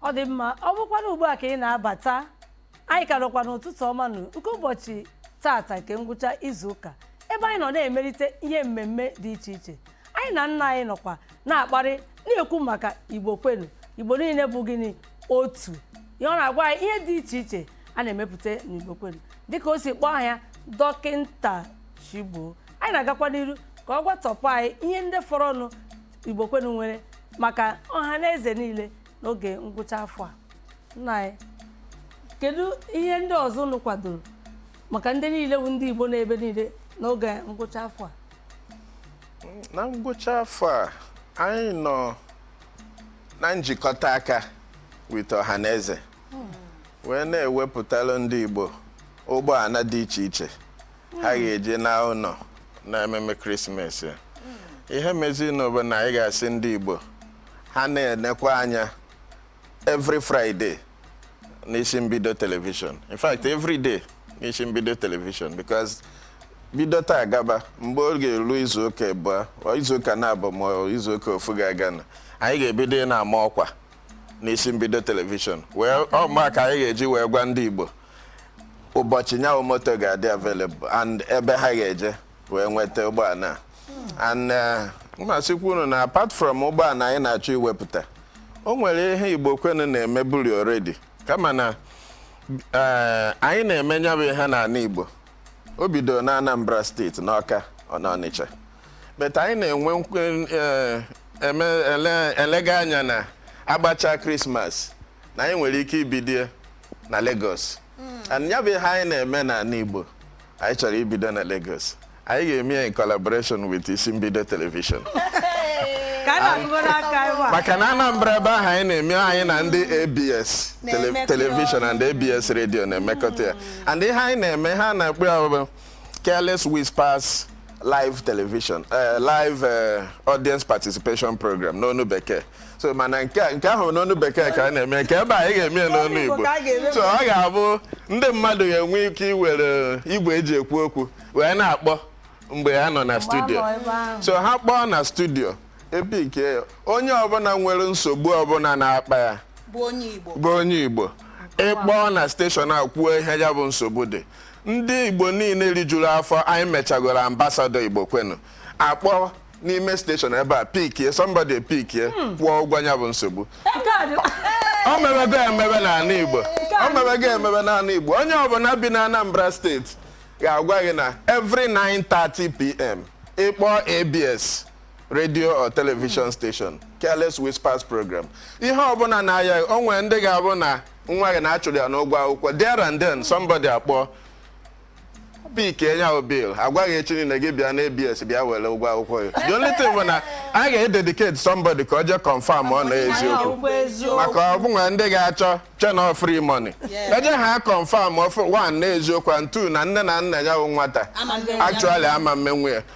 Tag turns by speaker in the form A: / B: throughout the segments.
A: ọ dị mma ọ bụkwana ugbu a ka ị na-abata anyị ka nọkwa n'ụtụtụ ọma nụ nke ụbọchị tata nke ngwụcha izu ụka ebe anyị nọ na-emelite ihe mmemme dị iche iche anyị na nna anyị nọkwa na-akparị na-ekwu maka igbo kwenu igbo niile bụ gịnị otu ihe ọ na-agwa anyị ihe dị iche iche a na-emepụta n'igbo kwenu dịka o si kpọọ aha ya dọkịnta chigbo anyị na-agakwa n'iru ka ọ gwatọpụ anyị ihe ndị fọrọnụ Igbo kwenu nwere maka ọha na eze niile n'oge ngwụcha afọ a nna anyị kedu ihe ndị ọzọ unu kwadoro maka ndị niile bụ ndị Igbo n'ebe niile n'oge ngwụcha afọ a
B: na ngwụcha afọ a anyị nọ na njikọta aka with ọha na eze hmm. wee na-ewepụtara ndị Igbo ụgbọala dị iche iche ha hmm. ga-eji naa ụlọ na ememe krismas hmm. ihe mezinụ bụ na anyị ga-asị ndị Igbo ha na-enekwa anya every Friday n'isi mbido telivishọn in fact every day n'isi mbido telivishọn because bido taa gaba mgbe ọ ga-eru izuụka abụọ izuụka naabọ ma izuụka ofu ga-aga na anyị ga-ebido na-ama ọkwa n'isi mbido telivishọn wee ọma ka anyị ga-eji wee gwa ndị Igbo ụbọchị nya bụ moto ga-adị available and ebe ha ga-eje wee nweta ụgbọala a and eh, m asịkwa unu na apart from ụgbọala anyị na-achọ iwepụta o nwere ihe igbo kwenu na-emeburi already kama na eh, anyị na-eme nya bụ ihe n'ala igbo o bidoro na anambra steeti n'ọka ọ na ọnịcha but anyị na-enwe nkwe eh, eme ele- elega anya na agbacha krismas na anyị nwere ike ibido ya na Lagos and ya bụ ihe anyị na-eme n'ala Igbo anyị chọrọ ibido na Lagos anyị ga-eme ya in collaboration with isi mbido telivishọn ka a na-agụgoro aka ebe a maka na Anambra ebe ahụ anyị na-eme anyị na ndị ABS tele- Na-emekọ telivishọn and ABS redio na-emekọta ya and ihe anyị na-eme ha na-akpọ ya bụ careless whispers live television eh, live eh, audience participation program n'onu bekee so mana nke a- nke ahụ n'onu bekee ka a na-eme nke ebe a anyị ga-eme ya n'onu N'onu Igbo Igbo ka a ga-eme so ọ ga-abụ ndị mmadụ ga-enwe ike iwere igwe eji ekwu okwu wee na-akpọ mgbe ha nọ na studio nọ ebe ahụ. so ha kpọọ na studio epike ya onye ọbụla nwere nsogbu ọbụla na-akpa ya bụ onye Igbo bụ onye igbo ị kpọọ na steshọn a kwuo ihe ya bụ nsogbu dị ndị igbo niile rijuru afọ anyị mechagoro ambasadọ igbo kwenu akpọ n'ime steshọn ebe a pikie somebody pikie hmm. kwụọ ụgwọ nya bụ nsogbu o mebego emebe n'ala Igbo o mebego emebe n'ala Igbo onye ọbụla bi na Anambra steeti ga-agwa gị na every 9:30 pm ị kpọọ ABS radio or television hmm. station careless whispers program ihe ọbụla na-aya o nwere ndị ga-abụ na nwa gị na a chụrụ ya n'ụgwọ akwụkwọ there and then somebody akpọọ pikie nya bụ bill agwa gị echi niile gị bịa na ABS bịa were ụgwọ akwụkwọ ya the only thing bụ na a ga-ededicate somebody ka o jee confirm ọ na eziokwu maka o nwere ndị ga-achọ chee na free money e jee ha confirm one na eziokwu and two na nne na nna ya bụ nwata actually ama emenwu ya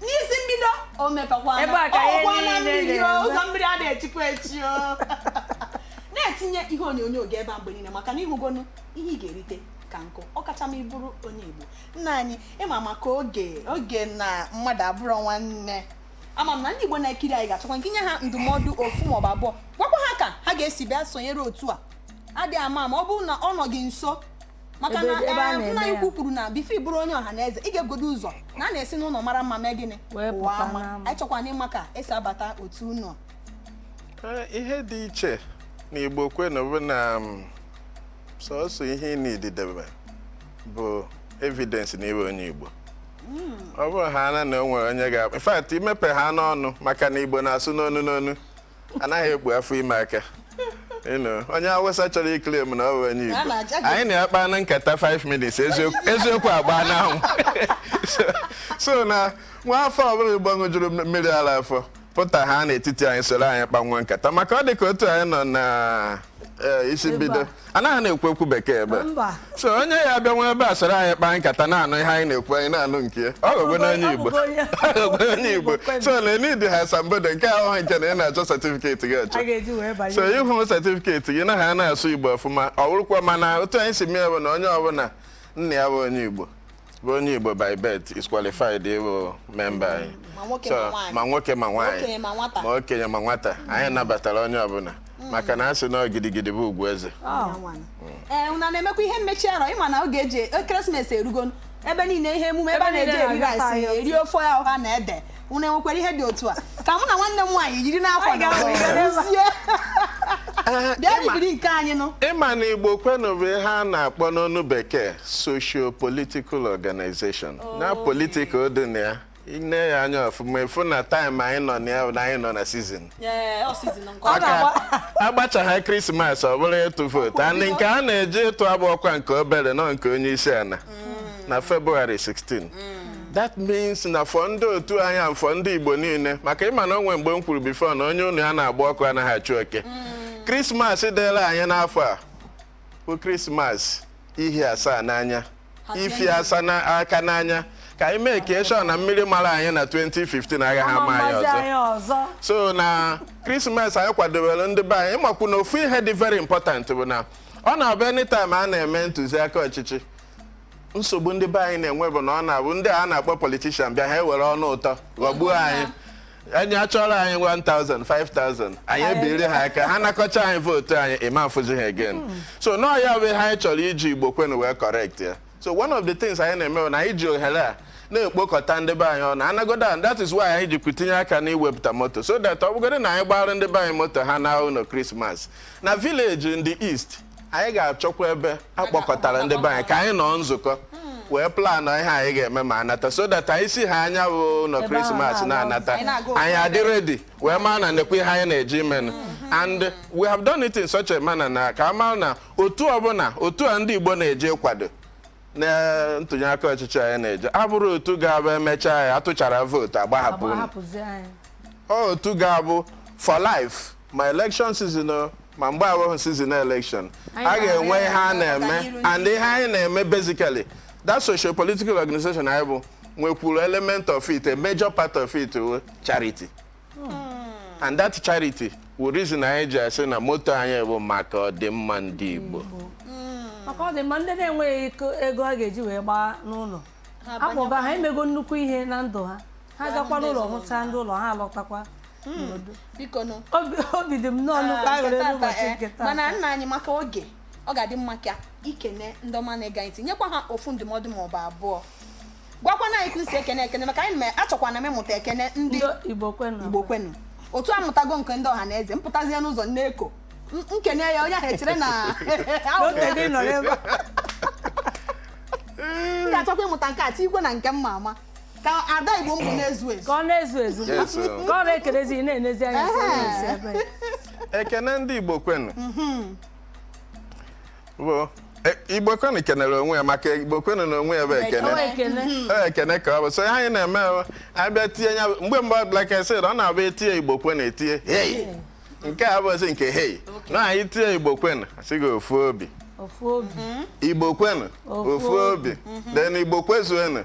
C: n'isi mbido o mepekwana Ebe a ka ihe ọkwa na niile mmiri o na-eme. ụzọ mmiri ada echikwa echi o na-etinye ihe onyonyo gị ebe a mgbe niile maka na ị hụgonụ ihe ị ga-erite ka nkụ ọkacha ma ị bụrụ onye igbo nna anyị ị ma maka oge na mmadụ abụrọ nwanne ama m na ndị igbo na-ekiri anyị ga-achọkwa ka ị nye ha ndụmọdụ ofu maọbụ abụọ gwakwa ha ka ha ga-esi bịa sonyere otu a adịghị ama ma ọ bụrụ na ọ nọ gị nso maka na ebe a eh, na-eme nna anyị ukwu kwuru na bifọ ị bụrụ onye ọha na eze ị ga-ebugodo ụzọ na a na-esi n'ụlọ mara mma mee gịnị Wee pụwa pụta ama. n'ama. anyị chọkwara ịma ka e si abata otu unu Ee,
B: ihe dị iche na igbo kwenu bụ na mm, sọsọ ihe ị nidi idebe bụ evidence na ị wụ onye igbo ọ bụrụ ha na na o nwere onye ga-akpa in fact i mepehaana ọnụ maka na igbo na-asụ n'onu n'onu anaghị ekpu afọ ime aka onye awụsa chọrọ iklem na ọ bụ onye igbo anyị na ya kpaa nkata 5 minutes eziokwu agbaa n'anwụ so na nwa afọ ọbụla Igbo ṅụjuru mmiri ala afọ pụtahaa n'etiti anyị soro anyị kpawa nkata maka ọ dị ka otu anyị nọ na eh, isi mbido anaghị na-ekwu ekwu bekee ebe Mba. so onye ya bịawa ebe a soro anyị kpaa nkata na-anụ ihe anyị na-ekwu anyị na-anụ nke ya. ọ gogwe n'onye Ọ igbo bụgo onye- Ọ gogwe n'onye igbo Igbo so na enidi ha asambodo nke a wụghị nke na ị na-achọ setifiketi gị achọ a ga-eji wee banye so ihe wụ setifiketi gị na ha na-asụ igbo ọfụma ọ bụrụkwa mana otu anyị si mee bụ na onye ọbụla nna ya bụ onye igbo bụ onye Igbo by birth is qualified ịbụ memba anyị ma nwoke ma nwaanyị ma okenye ma nwata anyị nabatara onye ọbụla mm. maka na a sị na gidigidi bụ ugwu eze oh. ee
C: eh, unu na-emekwa ihe mmechi arọ ị ma na oge eji ekeresimesi erugo ebe niile ihe emume ebe a na-eji eri rice eri ofe ọha na ede unu nwekwara ihe dị otu a ka mụ na nwanne m nwaanyị jiri n'akwa na rụzie Ee, bịa ịma- bibiri nke anyị nụ ị ma na igbo kwenu
B: bụ ihe a na-akpọ n'ọnụ bekee socio political organization na political dị na ya i nee ya anya ọfụma ị fụ na taịm anyị nọ na ya bụ na anyị nọ na sizin Ee, ọ sizin nke ọ maka a gbachahaa krismas ọ bụrụ ịtụ vootu and nke a na-eje ịtụ abụrọkwa nke obere na ọ nke onye isi ala na February 16 that means na for ndị otu anyị and for ndị Igbo niile maka ịma na onwe mgbe m kwuru before na onye ụnọ ya na-agba ọkụ anaghị achụ oke krismas dịla anyị n'afọ a bụ krismas ihi asaa n'anya ifi asa na aka n'anya ka anyị make sure na mmiri mara anyị na 2015 agaghị ama anyị ọzọ so na krismas anyị kwadobere ndị be anyị ịmakwu na ofu ihe dị very important bụ na ọ na-abụ anytime a na-eme ntụziaka ọchịchị nsogbu ndị be anyị na-enwe bụ na ọ na-abụ ndị a na-akpọ politician bịa ha ewere ọnụ ụtọ ghọgbuo anyị anyị achọrọ anyị 1000 5000 anyị ebiri ha aka ha nakọcha anyị vootu anyị ịma afụzi ha again so na ọ ya bụ ihe anyị chọrọ iji igbo kwenu wee correct ya so one of the things anyị na-eme na anyị ji ohere a na-ekpokọta ndị be anyị ọnụ anagodo and that is why anyị jikwu tinye aka n'iwepụta moto so that ọ bụgodị na anyị gbara ndị be anyị moto ha naa ụlọ krismas na village in the east anyị ga-achọkwa ebe a kpọkọtara ndị be anyị ka anyị nọ nzukọ wee plan ihe anyị ga-eme ma anata so that anyị si ha nya bụ ụlọ krismas na-anata anyị adị ready wee maa na nekwa ihe anyị na-eje imenụ and we have done it in such a manner na ka a mara na otu ọbụla otu a ndị Igbo na-eje kwado na ntụnyeaka ọchịchị anyị na-eje abụrọ otu ga-abụ emechaa ya atụchara vootu agbahapụ unu. Ọ otu ga-abụ for life ma election season o, ma mgbe awụghị season election a ga-enwe ihe a na-eme and ihe anyị na-eme basically that social political organization anyị bụ nwekwuru element of it a major part of it wụ charity and that charity wụ reason anyị ji asị na moto anyị bụ maka ọdịmma ndị Igbo maka
A: ọdịmma ndị na-enweghị ego ha ga-eji wee gbaa n'ụlọ akpọga ha emego nnukwu ihe na ndụ ha ha gakwa n'ụlọ hụchaa ndị ụlọ ha alọtakwa obi dị m nnọọ nnukwu aṅụrị n'ụbọchị nke taa mana nna anyị maka oge
C: ọ ga-adị mma ka i kene ndị ọma na-ege anyị ntị nyekwa ha ofu ndụmọdụ maọbụ abụọ gwakwana anyị ka i si ekene ekene maka anyị na- achọkwana m ịmụta ekene ndị Igbo kwenu.
A: igbo
C: kwenu otu amụtago nke ndị ọha na eze m pụtazie n'ụzọ nneko m kene ya onye ahụ echere na m ga-achọkwa ịmụta nke a tikwe na nke m ma ama ka ada igbo m bụ na-ezu ezu Ka ọ na-ezu ezu.
A: Ka ọ na-ekelezi ị na-enezi anya. ebe ekene
B: ndị igbo kwenu E, igbo kwenu kenere onwe ya maka igbo kwenu na onwe ya bụ ekene e, ekene ka ọ bụ so anyị na-eme abịa tinye ya mgbe mgbe like I said ọ na-abụ etinye igbo kwenu etinye hei nke a bụzi nke hei na anyị tinye igbo kwenu asị gị ofu obi igbo kwenu ofu obi then igbo kwezuenu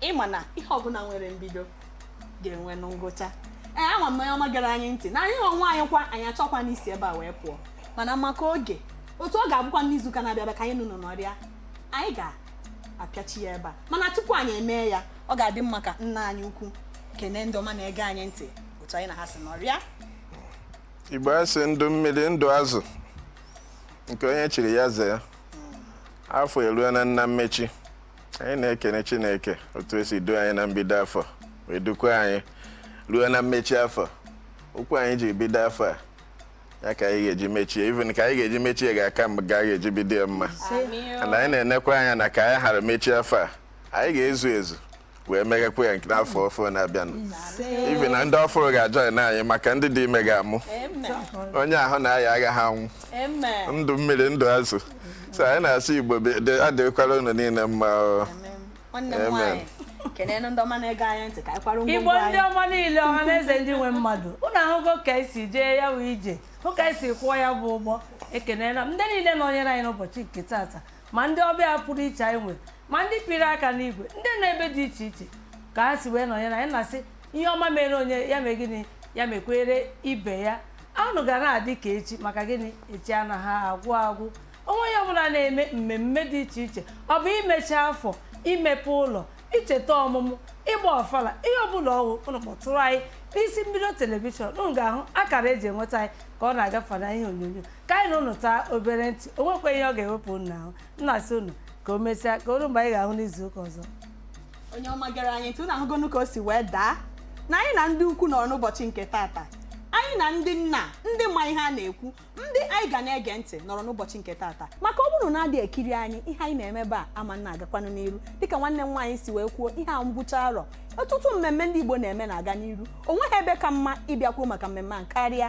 C: ịma na ihe ọbụla nwere mbido ga-enwe ngwụcha ee ama m onye ọma gere anyị ntị na anyị onwe anyị kwa anyị achọkwanụ isi ebe a wee pụọ mana maka oge otu ọ ga-abụkwa n'izuụka na-abịa abịa ka anyị na ụnụ nọrịa anyị ga-apịachi ya ebe a mana tupu anyị emee ya ọ ga-adị mma ka nna anyị ukwu kene ndị ọma na-ege anyị ntị otu anyị na ha si
B: nọrịa igbo asị ndụ mmiri ndụ azụ nke onye chiri ya zee afọ eruena na mmechi anyị na-ekene chineke otu o si duo anyị na mbido afọ wee dukwa anyị ruo na mmechi afọ okwu anyị ji bido afọ a ya ka anyị ga-eji mechie even ka anyị ga-eji mechie ga-aka mgbe ga ga-eji bido ya mma na anyị na-enekwa anya na ka anyị hara mechie afọ a anyị ga-ezu ezu wee meghekwa ya nke n'afọ ọfụrụ na-abịanụ even ndị ọfụrụ ga-ajoin anyị maka ndị dị ime ga-amụ onye ahụ na-aya agaghị anwụ ndụ mmiri ndụ azụ so anyị na-asị igbo adịkwara unu niile
A: mma igbo ndị ọma niile ọha na eze ndị nwe mmadụ ụnụ ahụgo ka esi jee ya bụ ije hụ ka esi kwọọ ya bụ ụgbọ ekelela m ndị niile nọnyere anyị n'ụbọchị nke taata ma ndị ọbịa pụrụ iche anyị nwere ma ndị pịrị aka n'igwe ndị nọ ebe dị iche iche ka ha si wee nọnyere anyị na-asị ihe ọma mere onye ya mee gịnị ya mekwere ibe ya ụnụ ga na-adị ka echi maka gịnị echi anaghị agwụ agwụ o nwee ihe ọbụla a na-eme mmemme dị iche iche ọ bụ imechi afọ imepe ụlọ icheta ọmụmụ ịgba ọfala ihe ọbụla ọ wụ ụnụ kpọtụrụ anyị n'isi mbido telivishọn ụnụ ga-ahụ akara eji enweta anyị ka ọ na-agafe n'ihe onyonyo ka anyị na ụnụ taa obere ntị o nwekwa ihe ọ ga-ewepụ ụnụ n'ahụ m na-asị ụnụ ka o mesịa ka o ruo mgbe anyị ga-ahụ n'izu ụka ọzọ onye
C: ọma gere anyị ntị unu ahụgonu ka o si wee daa na anyị na ndị ukwu nọrọ n'ụbọchị nke tata anyị na ndị nna ndị ma ihe a na-ekwu ndị anyị ga na-ege ntị nọrọ n'ụbọchị nke tata maka ọ bụrụ na adị ekiri anyị ihe anyị na-eme ebe a ama na-agakwanụ n'iru dịka nwanne m nwaanyị si wee kwuo ihe a ngwụcha arọ ọtụtụ mmemme ndị Igbo na-eme na-aga n'iru o nweghị ebe ka mma ịbịa kwuo maka mmemme a karịa